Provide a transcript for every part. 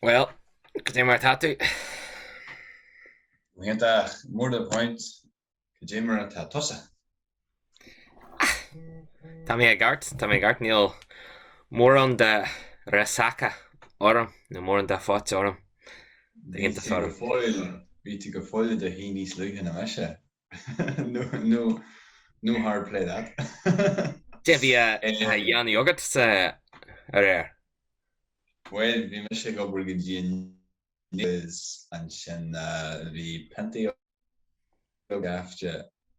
Bhuel, cad é mar atá tú? Go hiontach, more to the point, cad é mar atá tusa? Tá mé go ceart, tá mé go ceart, níl mórán de resaca orm, nó mórán de phóit orm. Bhí tú go fóill, bhí tú go fóill i do shuí níos luaithe ná mise. No no fair play that. Cad é a bhí tú a dhéanamh agat aréir? Bhuel bhí mise ag obair go dtí inniu agus ansin bhí piontaí gaibhte.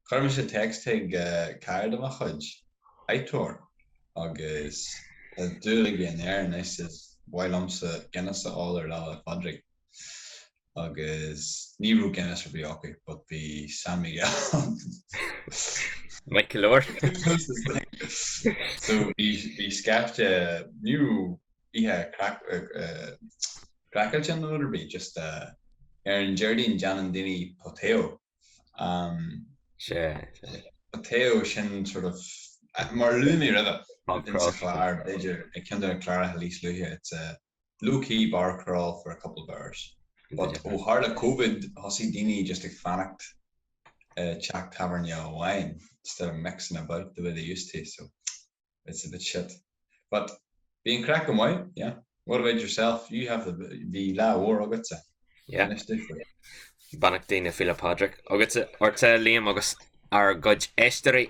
Chuir mise text chuig cara de mo chuid, fhaighteoir, agus tá dúil aige Éireannach agus ba mhaith liomsa Guinness a fháil ar Lá Fhéile Pádraig. agus ní raibh Guinness ar bith acu but bhí San Miguel Maith go leor. So bhí scaifte, ní raibh oíche craiceáilte nó rud ar bith just ar an Déardaoin déanann daoine poteo. Poteo sin sort of mar a luaigh mé roimhe ins an chlár b'fhéidir, ceann de na cláracha níos luaithe it's a, Low key bar crawl for a couple of hours. But ó tharla Covid thosaigh daoine just ag fanacht i teach tábhairne amháin instead of mixing about the way they used to, so it's a bit shit. But bhí an craic go maith, yeah. What about yourself? You have the bhí lá mór agatsa. Yeah. Beannachtaí na Féile Pádraig ortsa Liam agus ar ár gcuid éisteoirí.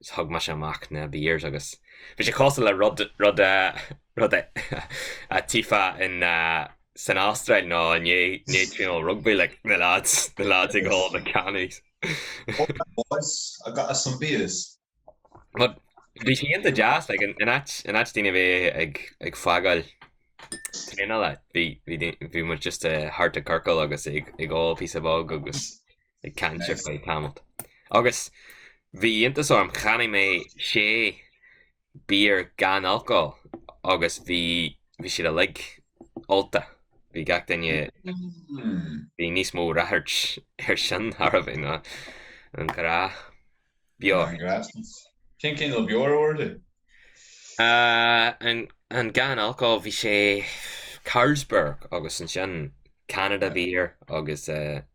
Is thug mise amach na beers agus bhí sé cosúil le rud rud a rud a a tchífeá insan Astráil nó i ndiaidh traenáil rugbaí like na lads na lads ag ól na cannies. Boys, I got us some beers. But bhí sé iontach deas like in in áit in áit daoine a bheith ag ag fágáil traenála bhí bhí daoine bhí muid just thart i gciorcal agus ag ag ól píosa beag agus ag caint ar feadh tamalt. Agus bhí iontas orm, cheannaigh mé sé beer gan alcohol agus bhí bhí siad uilig ólta. Bhí gach duine, bhí níos mó ráchairt ar sin thar a bheith ná an gnáthbheoir. Cén cineál beoir a bhfuair tú? An an gan alcohol bhí sé Carlsberg agus ansin Canada beer agus eh,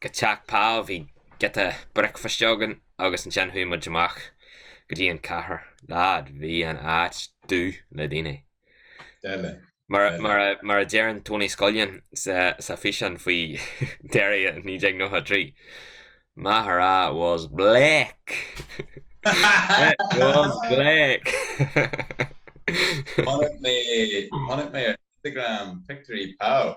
Go teach Pá bhí giota breakfast againn agus ansin chuaigh muid amach go dtí an cathair. Lad, bhí an áit dubh le daoine. Deadly. Mar a deireann Tony Scullion sa físeán faoi Derry 1993, Maghera was black! It was black! Chonaic mé ar Instagram pictiúirí Pá.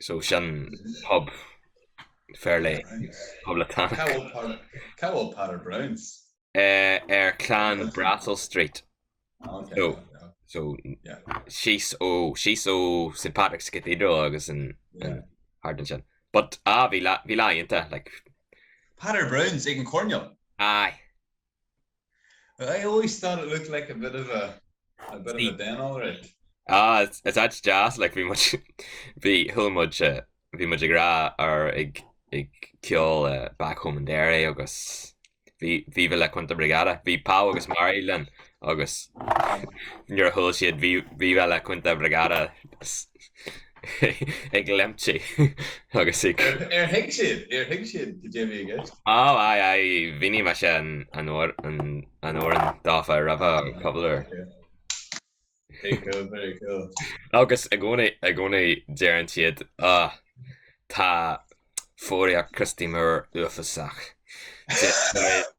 So sin pub fairly poblachtánach. Cá bhfuil Peadar Brown's? Ar Clanbrassil Street. So síos ó síos ó St Patrick's Cathedral agus an thart ansin. But ah bhí lá bhí lá iontach like. Peadar Brown's ag an choirnéal? Aye. I always thought it looked like a bit of a a bit of a den alright. Ah, it's, it's actually just like bhí muid bhí cheol muid bhí muid ag rá or ag ag ceol eh, back home in Derry agus Viva la Quinta Brigada bhí Pá agus Marie linn agus nuair a cheol siad Viva la Quinta Brigada ag léimtí agus ag. Ar thuig siad? Ar thuig siad goidé a bhí i gceist? Ó, aye, aye, mhínigh mise an amhrán dófa roimhe an cúpla uair. Very cool, very cool. Agus i gcónaí, i gcónaí deireann siad, ó, tá foghraíocht Christy Moore uafásach.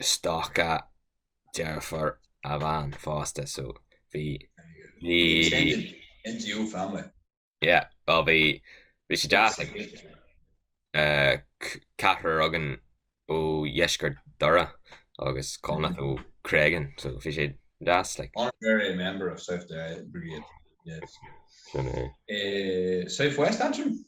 stócach deirfiúr a bhean fosta so bhí bhí NGO family yeah bhuel bhí bhí sé deas like ceathrar againn ó dheisceart Dhoire agus Conleth ó Creggan so bhí sé deas like honorary member of South Derry Brigade yes sin é South West Antrim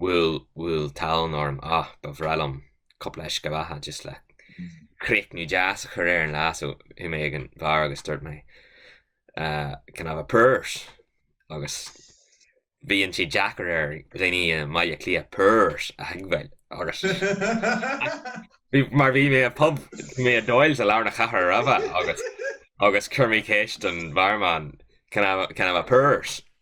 bhfuil bhfuil tallann orm ach ba bhreá liom cupla uisce beatha just le críochnú deas a chur ar an lá so bhí mé ag an bheár agus dúirt mé eh, can I have a Powers? agus bíonn sé deacair ar dhaoine i mBaile Cliath Powers a thuigbheáil agus bhí mar bhí mé i pub mé ag ól i lár na cathrach roimhe agus agus chuir mé ceist don bheármán can I have a can I have a Powers?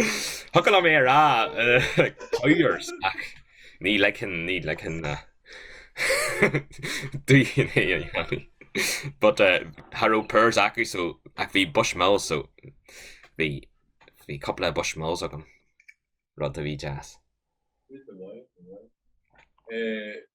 Thiocfadh liom é a rá Powers ach ní ligfinn, ní ligfinn domh é a dhéanamh. But cha raibh Powers acu so ach bhí bushmills so bhí, bhí cupla bushmills agam, rud a bhí deas.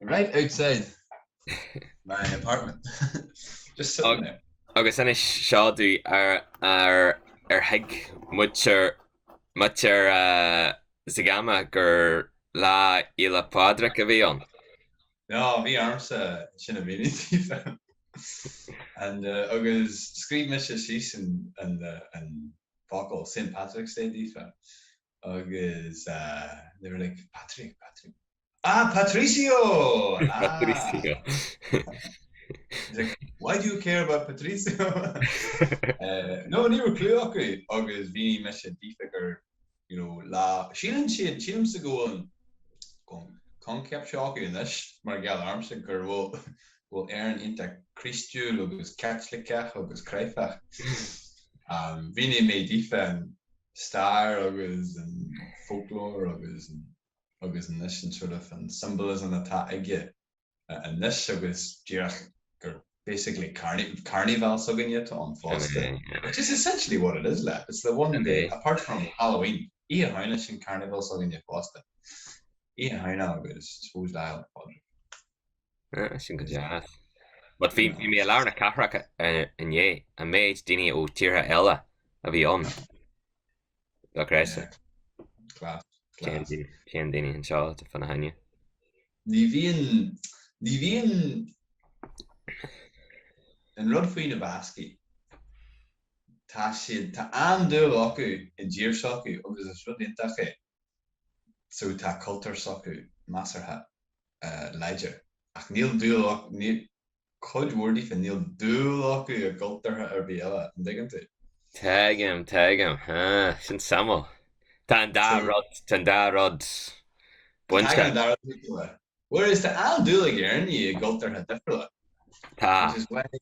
Right outside my apartment. Just sitting there. Agus inis seo domh ar thuig muintir Zegama gur Lá Fhéile Pádraig a bhí ann. No, bhí ormsa sin a mhíniú daofa. And agus scríobh mise síos an focal Saint Patrick's Day daofa agus they were like Patrick, Patrick. Ah, Patricio! Patricio. Why do you care about Patricio? No, ní raibh clue acu agus mhínigh mise daofa gur, you know, lá, síleann siad, sílimse go bhfuil an concept seo acu anois mar gheall ormsa gur bhfuil, go bhfuil Éireann iontach Críostúil agus Caitliceach agus Cráifeach. Mhínigh mé daofa an stair agus an folklore agus an. agus anois an sort of an symbolism atá aige anois agus díreach gur basically carni-carnival s'againne atá ann fosta which is essentially what it is like, it's the one day apart from Halloween Oíche Shamhna sin carnival s'againne fosta Oíche Shamhna agus I suppose Lá Fhéile Pádraig. Ah, sin go deas. But bhí bhí mé i lár na cathrach inné, an méid daoine ó tíortha eile a bhí ann. Dochreidte. Class, class. Cén daoine anseo atá fan a haigne? Ní bhíonn, ní bhíonn an rud faoi na Bascaigh, tá siad, tá an-dúil acu i dtír s'acu agus is rud iontach é. So tá cultúr s'acu, measartha. láidir. Ach níl dúil acu, níl, cuid mhór díofa, níl dúil acu i gcultúrtha ar bith eile, an dtuigeann tú? Tuigim, tuigim. Sin suimiúil. Tá an dá rud, tá an dá rud bainte. Tagann an dá rud le chéile. Whereas tá an-dúil ag Éireannaigh i gcultúrtha difriúla. Tá. Which is why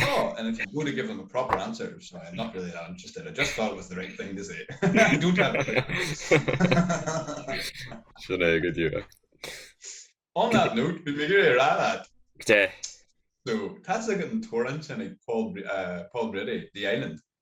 Oh, and if you go to give them a proper answer, so I'm not really that interested, I just thought it was the right thing to say. I don't have to do it. Sin é a gcuid iarracht. On that note, bhí mé ag iarraidh a rá leat. Cté? So, cad is agat an teorainn sin ag Paul Brady, The Island?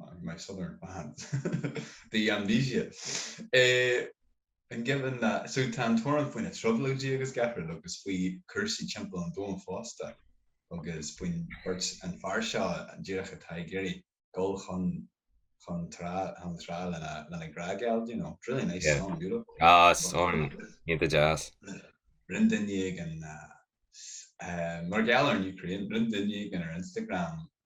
All my southern fans the amnesia eh and given that so tá an t-amhrán faoi na trioblóidí agus gcathrach agus faoi chúrsaí timpeall an domhain fosta agus faoin bheirt an fear seo díreach atá ag iarraidh dul chun chun trá chun trá lena lena grá geal do you know it's really nice Yeah. song beautiful Ah, is but amhrán iontach deas. Rinn duine éigin eh, eh, mar gheall ar an Ukraine, rinn duine éigin ar Instagram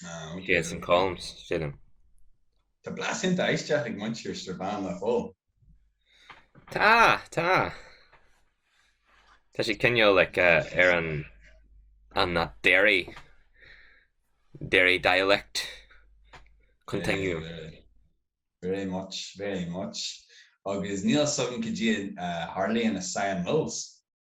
St Columb's, sílim. Tá blas iontach aisteach ag muintir Strabane, nach bhfuil. Tá, tá. Tá sé cineál like ar an an that Derry Derry dialect continuum. Very much, very much. Agus níl 'fhios agam cad é a tharlaíonn i Sion Mills.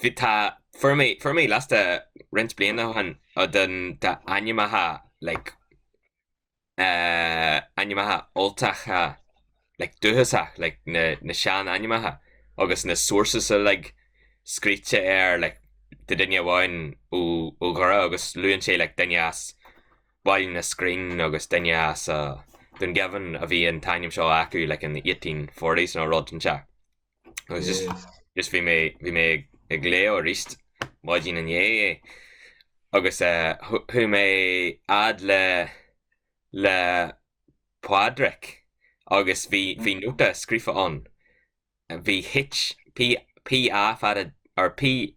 Bhí, tá, fuair mé, fuair mé liosta roinnt bliana ó shin ó don dá ainmneacha like eh, ainmneacha Ultacha like dúchasach like na, na sean ainmneacha agus na sources uilig scríte air like de duine amháin ó, ó Dhoire agus luann sé like duine as Baile na Scríne agus duine as a, Dún Geimhin a bhí an t-ainm seo acu like in the eighteen forties nó rud inteacht. Agus just, just bhí mé, bhí mé ag léigh aríst maidin inné é agus eh, chu- chuaigh mé fhad le, le Pádraic agus bhí, bhí nóta scríofa ann. Bhí H, P, P, A fada, or P,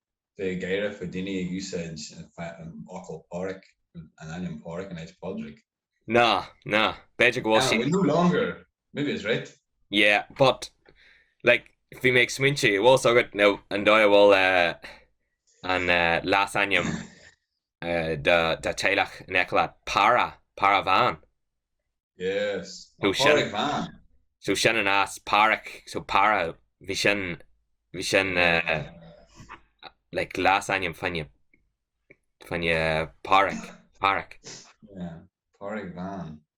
Fé dheire fuair daoine ag úsáid an fhocal Páraic, an ainm Páraic in áit Pádraig. Ná, ná, b'fhéidir go bhfuil Now, sé. we no longer, maybe it's right. Yeah, but, like, bhí mé ag smaointiú, bhfuil fhios agat, now, an dóigh a bhfuil an leasainm do teaghlach in aice le Pára, Pára Bhán. Yes, oh Pádraig Bhán. So sin an as, Páraic, so Pára, bhí sin, bhí sin like leasainm fá choinne, fá choinne Páraic, Páraic. Yeah, Pádraig Bhán.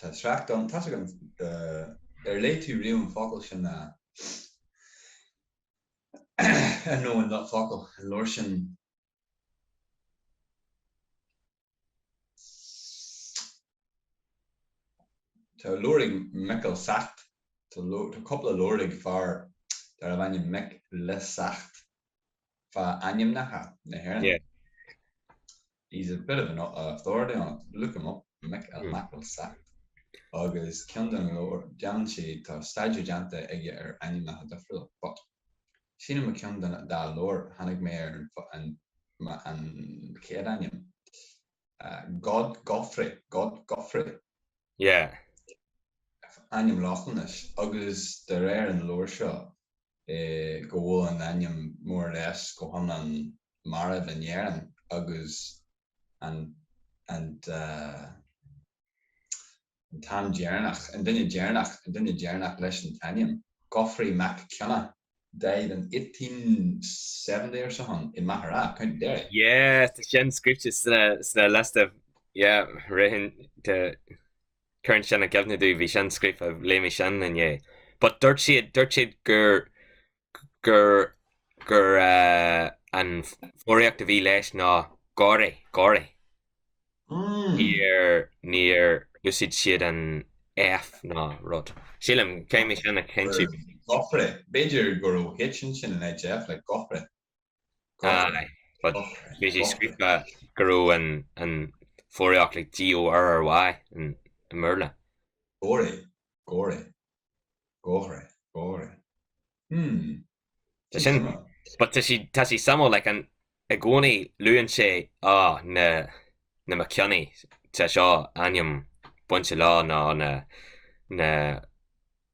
Tá trácht ann, tá's agam. Ar léigh tú riamh an focal sin ná nó an focal, an leabhar sin Tá leabhar ag MacLysaght, tá cúpla leabhar ag fear darbh ainm MacLysaght fá ainmneacha na hÉireann. He's a bit of an authority on it, look him up, MacL- MacLysaght agus ceann de na leabhair déanann sé tá staidéar déanta aige ar ainmneacha difriúla but sílim gur ceann den dá leabhar a tháinig mé ar an an chéad ainm God Gofraidh God Gofraidh yeah ainm Lochlainnis agus de réir an leabhair seo é go bhfuil an ainm more or less go hiomlán marbh in Éirinn agus an an an t-am deireanach, an duine deireanach, an duine deireanach leis an t-ainm, Gofraidh Mac Cionnaith. Died in 1870 or something in Maghera, County Derry. Yeah, tá sin scríte sa liosta yeah, written in the. Cuireann sin i gcuimhne domh bhí sin scríofa léigh mé sin inné. But duirt siad duirt siad gur gur gur eh an foghraíocht a bhí leis ná Gofraidh Gofraidh. Níor níor úsaid siad an F nó rud. Sílim caithfidh mé sin a chinntiú. Gofraidh. B'fhéidir go raibh H ansin in HF like Gofraidh. Aye, but bhí sé scríofa go raibh an an fhoghraíocht like G-O-R-R-Y in i mBéarla. Gorey, Gorey, Gohrey, Gorey. Hmm. Tá sin but tá sé tá sé suimiúil like an i gcónaí luann sé á na na Mac Cionnaith tá seo ainm bainteach leo ná na na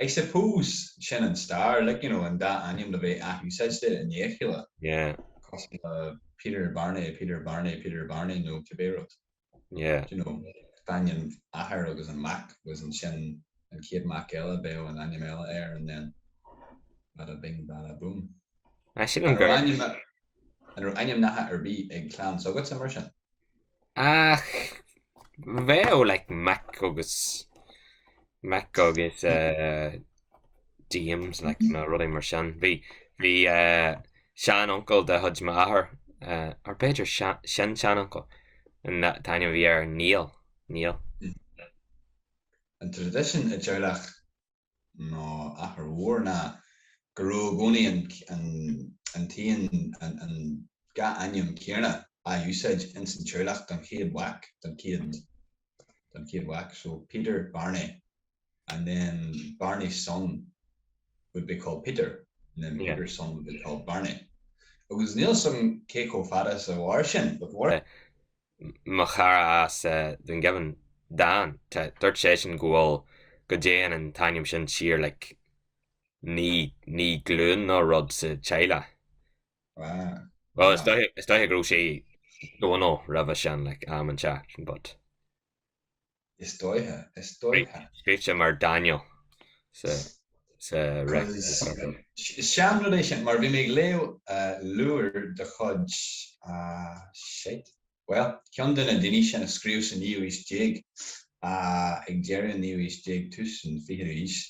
I suppose, sin an stair, like, you know, an dá ainm a bheith athúsáidte i ndiaidh a chéile. Yeah. Cosúil le Peter Barney, Peter Barney, Peter Barney nó cibé rud. Yeah. Do you know, an t-ainm athair agus an mac agus ansin an chéad mac eile bheadh an ainm eile air and then bada bing bada boom. Ah, sin go leor. An raibh ainmneacha ar bith ag clann s'agatsa mar sin? Ach bheadh like Mac agus Mac agus eh James like nó rudaí mar sin. Bhí bhí eh sean-uncail de chuid m'athar eh nó b'fhéidir sean- sin-sean-uncail an t-ainm a bhí air Neil. Neil. An tradition i dteaghlach mo athar mhóir ná go raibh i gcónaí an, an, an t-aon, an, an dá ainm céanna á úsáid ins an teaghlach don chéad mhac, don chéad, don chéad mhac. So, Peter, Barney, and then Barney's son would be called Peter, and then Yeah. Peter's son would be called Barney. Agus níl 's a'm cé chomh fada 's a mhair sin, but mhair. mo chara as Dungiven, Dan, tá, dúirt seisean go bhfuil, go dtéann an t-ainm sin siar like naoi, naoi glúin nó rud sa teaghlach. Ah. Bhuel, is dóiche, is dóiche go raibh sé, don't know, roimhe sin like am an tea- but. Is dóiche, is dóiche. Scríobhadh sé mar Daniel sa records. Is sean rud é sin mar bhí mé ag léamh leabhar de chuid ah shit bhuel ceann de na daoine sin a scríobh sa naoú aois déag, ag deireadh an naoú aois déag tús an fichead aois.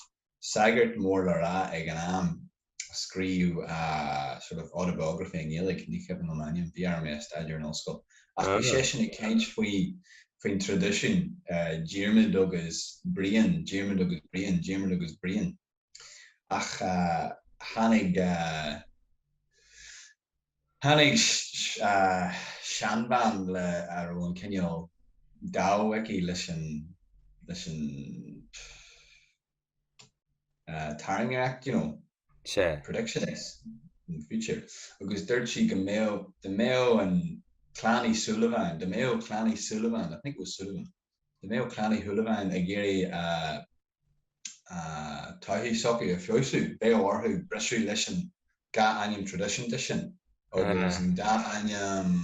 sagart mór le rá ag an am, a scríobh a sort of autobiography i nGaeilge, ní cuimhin liom a ainm, bhí orm é a staidéar in ollscoil, ach bhí Ah. seisean ag caint faoi, faoin traidisiún, Diarmaid agus Brian, Diarmaid agus Brian, Diarmaid agus Brian, ach tháinig. Tháinig seanbhean le a raibh an cineál dáimh aici leis an leis an tairngreacht, you know, predictions in the future, agus dúirt sí go mbeadh, dá mbeadh an Clann Uí Súilleabháin, dá mbeadh Clann Uí Súilleabháin, I think it was Sullivan, Dá mbeadh Clann Uí Shúilleabháin ag iarraidh a dtaithí sochaí a fheabhsú, bheadh orthu briseadh leis an dhá ainm traidisiúnta sin agus an dá ainm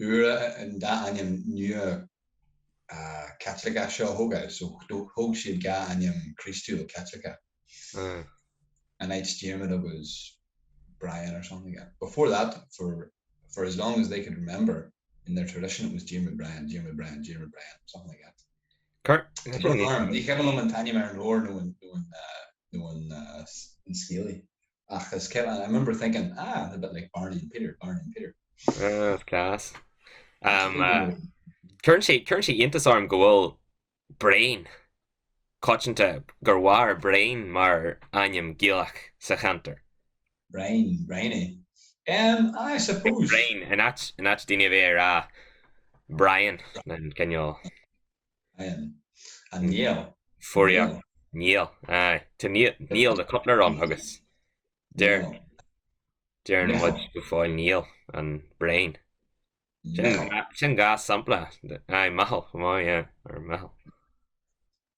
úra, an dá ainm nua Chaitliceach seo a thógáil. So thóg siad dhá ainm Críostúil Chaitliceach. in áit Diarmaid agus Brian or something like that. Before that for for as long as they could remember in their tradition it was Diarmaid Brian, Diarmaid Brian, Diarmaid Brian, something like that. Cha cuimhin liom an t-ainm ar an leabhar nó an nó an nó an scéalaí ach is cuimhin I remember thinking ah a bit like Barney and Peter, Barney and Peter. That's class. Cuireann sé cuireann sé iontas orm go bhfuil Brain coitianta gur mhair Brain mar ainm Gaelach sa cheantar. Brain, Brain é. Em, ah, I suppose. Big Brain, in áit, in áit daoine a bheith ag rá Brian, nó an cineál. Brian. An Néill. Fuaimníocht. Néill. Aye. Tá Néill, Néill the Cutler ann agus deir, Néill. deireann muid go fóill Néill and Brain. Sin dhá sampla. Aye, Meitheal. Má, yeah. Or Meitheal.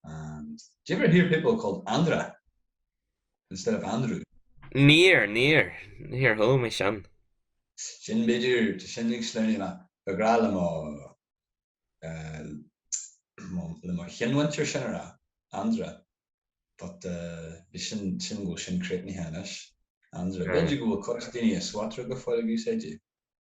And, do you ever hear people called Andra instead of Andrew? Níor, níor. Níor chuala mé sin. Sin b'fhéidir, tá sin ag sleamhnú amach. Ba ghnách le mo, le mo sheanmhuintir sin a rá, Andra. But, bhí sin, sin, bhuel, sin críochnaithe anois. Andra. B'fhéidir go bhfuil cuid daoine i Swatragh go fóill ag úsáid é.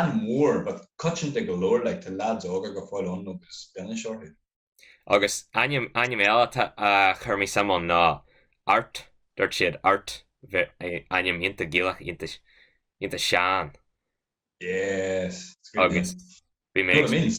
an-mhór but coitianta go leor like tá leaids óga go fóill ann agus Dinis orthu. Agus ainm, ainm eile atá a chuir mé suim ann ná Art, dúirt siad Art a bheith, ainm iontach Gaelach, iontach, iontach sean. Yes, it's a great name. Agus bhí mé ag.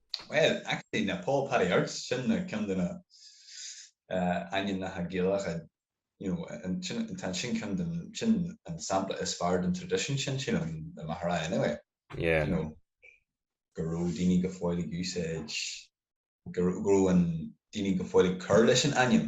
Bhuel, actually, na Paul Paddy Arts, sin ceann de na ainmneacha Gaelacha, you know, tá sin ceann den, sin an sampla is fearr den traidisiún sin, sílim, i Machaire Rátha anyway, you know, go raibh daoine go fóill ag úsáid, go raibh daoine go fóill ag cur leis an ainm.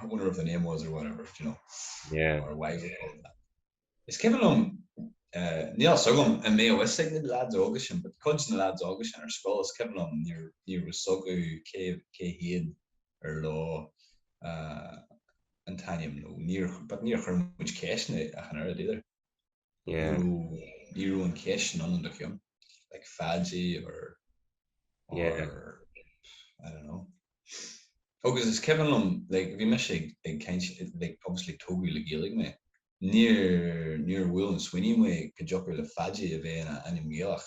I wonder what the name was or whatever, do you know? Yeah. Or why they called it that. Is cuimhin liom, eh, níl fhios agam an mbeadh fhios ag na lads óga sin, but cuid de na lads óga sin ar scoil, is cuimhin liom níor, ní raibh fhios acu cé, cé hiad ar leo, eh, an t-ainm nó níor, but níor chuir muid ceist in é ach an oiread either. Ní raibh an cheist sin ann in do chionn. Like Fadi or or I don't know. Ó agus is cuimhin liom like bhí mise ag caint like obviously tógadh le Gaeilge mé. Níor níor bhuail an smaoineamh mé go dtiocfadh le Fadi a bheith ina ainm Gaelach.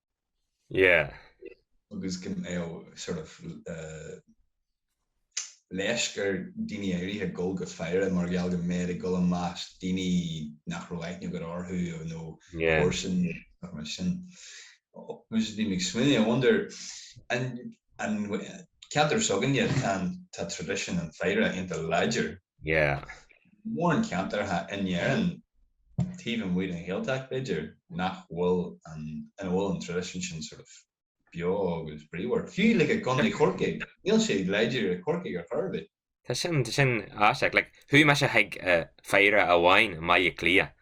Yeah. agus go mbeadh sort of leisc ar daoine áirithe gol go faire mar gheall go mbeadh tú ag gol i measc daoine nach raibh aithne agat orthu nó comharsain nó mar sin. Muise bím ag smaoineamh I wonder an an ceantar s'againne tá'n tá tradition an faire iontach láidir. Yeah. Mórán ceantracha in Éirinn. taobh amuigh den Ghaeltacht b'fhéidir, nach bhfuil an, ina bhfuil an traidisiún sin sort of beo agus bríomhar. Fiú like i gContae Chorcaí, níl sé láidir i Corcaigh ar chor ar bith. Tá sin, tá sin aisteach. Like chuaigh mise chuig faire amháin i mBaile Átha Cliath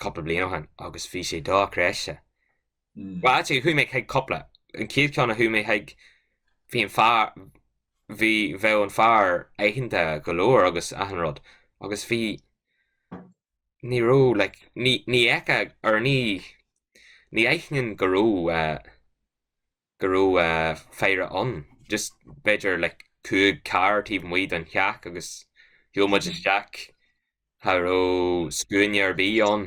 cúpla bliain ó shin agus bhí sé dochreidte. Bhuel actually chuaigh mé chuig cúpla. An chéad ceann a chuaigh mé chuig bhí an fear bhí bheadh an fear aitheanta go leor agus achan rud agus bhí ní raibh like ní ní fheicfeá or ní ní aithním go raibh eh go raibh eh faire ann. Just b'fhéidir like cúig carr taobh amuigh den teach agus shiúil muid isteach cha raibh scuaine ar bith ann.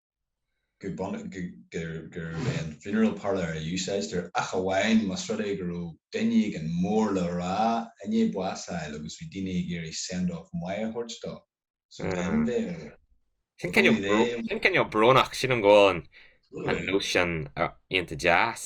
gurbh é an funeral parlour a úsáidtear ach amháin más rud é go raibh duine éigin mór le rá i ndiaidh bás fháil agus bhí daoine ag iarraidh send off maith a thabhairt dó. So then they were, Sin cineál brón, sin cineál brónach, sin an go bhfuil an, an nós sin iontach deas.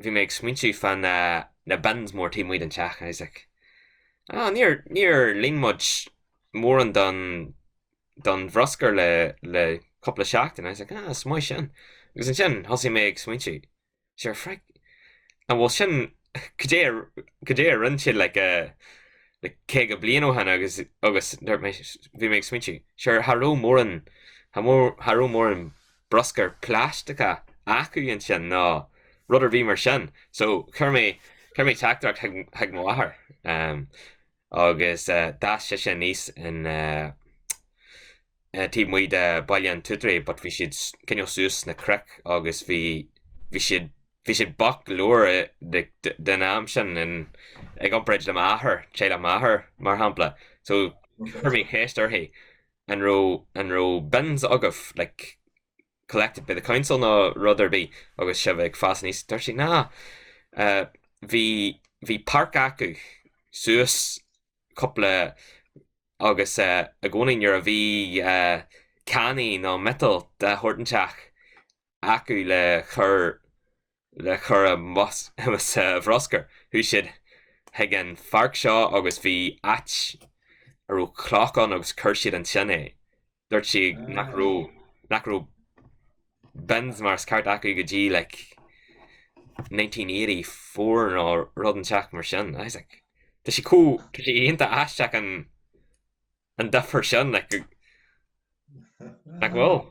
Bhí mé ag smaointiú fá na na bins mór taobh amuigh den teach, I was like. Á, níor, níor líon muid mórán don, don bhruscar le, le cúpla seachtain, I was like. Á, is maith sin. Agus ansin thosaigh mé ag smaointiú, sure frig, an bhfuil sin, cad é, cad é a rinn siad like eh, like caoga bliain ó shin agus, agus dúirt mé, bhí mé ag smaointiú, sure, cha raibh mórán, cha raibh, cha raibh mórán, bruscar plaisteacha acu ansin nó rud ar bith mar sin so chuir mé, chuir mé teachtaireacht chuig mo mháthair em agus d'fhás sise aníos in eh, taobh amuigh de Baile an tSutraigh but bhí siad cineál suas sna cnoic agus bhí, bhí siad, bhí siad bocht go leor like den am sin in, i gcomparáid le m'athair, teaghlach m'athair mar shampla so chuir mé ceist uirthi. An raibh, an raibh bins agaibh, like, collected by the council nó rud ar bith agus sibh ag fás aníos? Dúirt sí, ná, eh, bhí, bhí páirc acu suas cúpla agus eh, i gcónaí nuair a bhí eh, cannaí nó miotal de shórt inteacht acu le cur, le cur i mbosca sa bhruscar. Chuaidh siad chuig an pháirc seo agus bhí áit a raibh cloch ann agus chuir siad ansin é. Dúirt sí nach raibh, nach raibh bins mar is ceart acu go dtí like nineteen eighty four nó rud inteacht mar sin. I was like tá sé chomh, tá sé iontach aisteach an, an difear sin like nach bhfuil.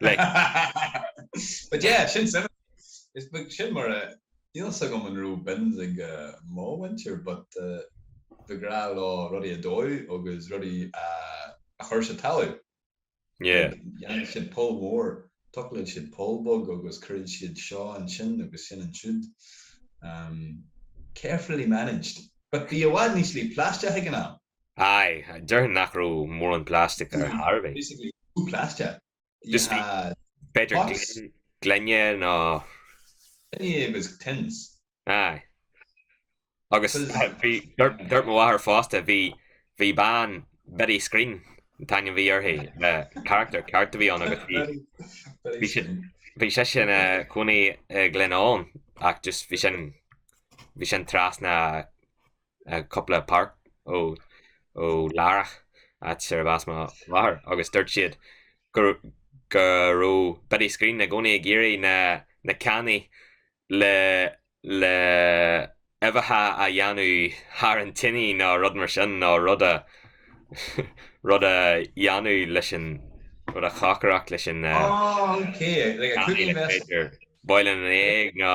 Like. But yeah, sin suimiúil. Is beag sin mar a, níl fhios agam an raibh bins ag mo mhuintir but ba bhreá leo rudaí a dhó agus rudaí a chur sa talamh. Yeah. Dhéanadh siad poll mór, thochlaíodh siad poll beag agus chuireadh siad seo ansin agus sin ansiúd. Carefully managed. But bhí i bhfad níos lú plaisteach ag an am. Aye, déarfainn nach raibh mórán plastic ar chor ar bith. Basically full plastic. Just bhí b'fhéidir gloine nó. Gloine agus tins. Aye. Agus bhí, dúirt mo mháthair fosta, bhí, bhí bean, Betty Screen, an t-ainm a bhí uirthi, character, ceart a bhí ann agus bhí, bhí siad, bhí sise ina cónaí i gCluain Eoin ach just bhí sin, bhí sin trasna cupla páirc ó Larach, áit arb as mo mháthair, agus dúirt siad go raibh Betty Screen i gcónaí ag iarraidh na cannaí le uibheacha a dhéanamh thar an tinidh nó rud mar sin, nó rud a dhéanamh leis an, rud a chócaireacht leis an okay, like a cooking vessel. Boiling an egg nó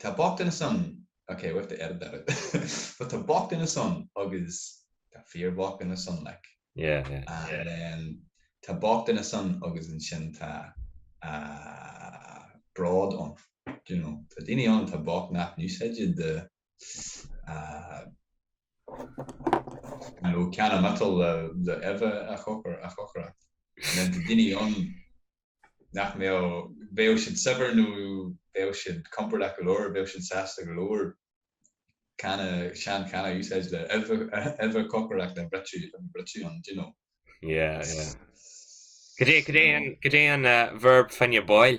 Tá bochtaineas ann, ok we have to edit that out but tá bochtaineas ann agus tá fíorbhochtaineas ann like Yeah yeah and then tá bochtaineas ann agus ansin tá ahh bród ann do you know tá daoine ann atá bocht nach n-úsáidfeadh do canna miotail le uibh a chócaireacht. And then tá daoine ann nach mbeadh, bheadh siad saibhir nó bheadh siad compordach go leor, bheadh siad sásta go leor canna, sean canna a úsáid le uibh a chócaireacht le bruite ann, do you know. Yeah, yeah. Cad é an verb fá choinne boil.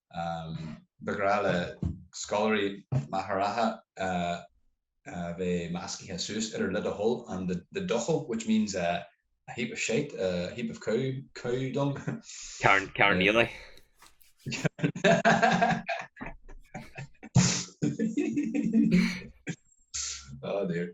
Ba ghnáth le scoláirí Mhachaire Rátha a bheith meascaithe suas idir le do thoil and the doicheall, which means a heap of shite, a heap of cow, cow dung. Carn, carn aoiligh. Oh dear.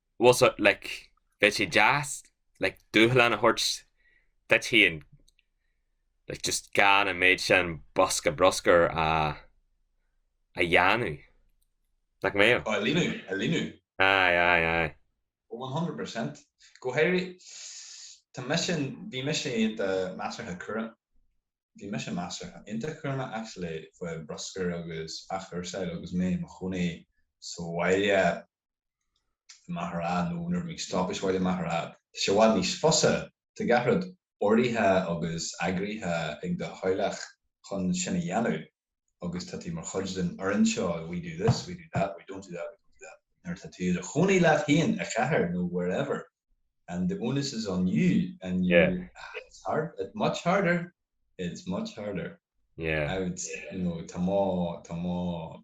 bhfuil so, like, bheadh sé deas, like, dúshlán a thabhairt duit féin, like, just gan an méid sin bosca bruscair a, a dhéanamh, nach mbeadh? Oh, a líonadh, a líonadh. Aye, aye, aye. Oh, one hundred percent. Go háirithe, tá mise, bhí mise iontach measartha cúram, bhí mise measartha, iontach cúramach actually faoi bhruscar agus athchúrsáil agus mé i mo chónaí sa bhaile, i Machaire Rátha, nó nuair a bhí mé ag stopadh sa bhaile i Machaire Rátha. Tá sé i bhfad níos fusa, tá gach rud ordaithe agus eagraithe ag do theaghlach chun sin a dhéanamh agus tá tú mar chuid den fhoireann seo, we do this, we do that, we don't do that, we don't do that. Nuair atá tú i do chónaí leat féin i chathair nó wherever and the onus is on you and you, yeah. it's hard, it's much harder, it's much harder. Yeah. I would say, you know, tá mo, tá mo,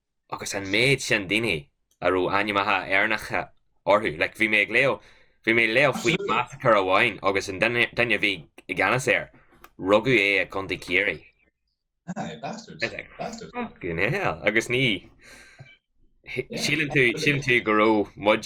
agus an méid sin daoine a raibh ainmneacha Éireannacha orthu, like bhí mé ag léamh, bhí mé ag léamh faoi Absolutely. massacre amháin agus an duine, duine a bhí i gceannas air, rugadh é i gContae Ciarraí. Aye, bastards, Is like, bastards. fucking hell, agus ní, Yeah, síleann tú, absolutely. síleann tú go raibh muid,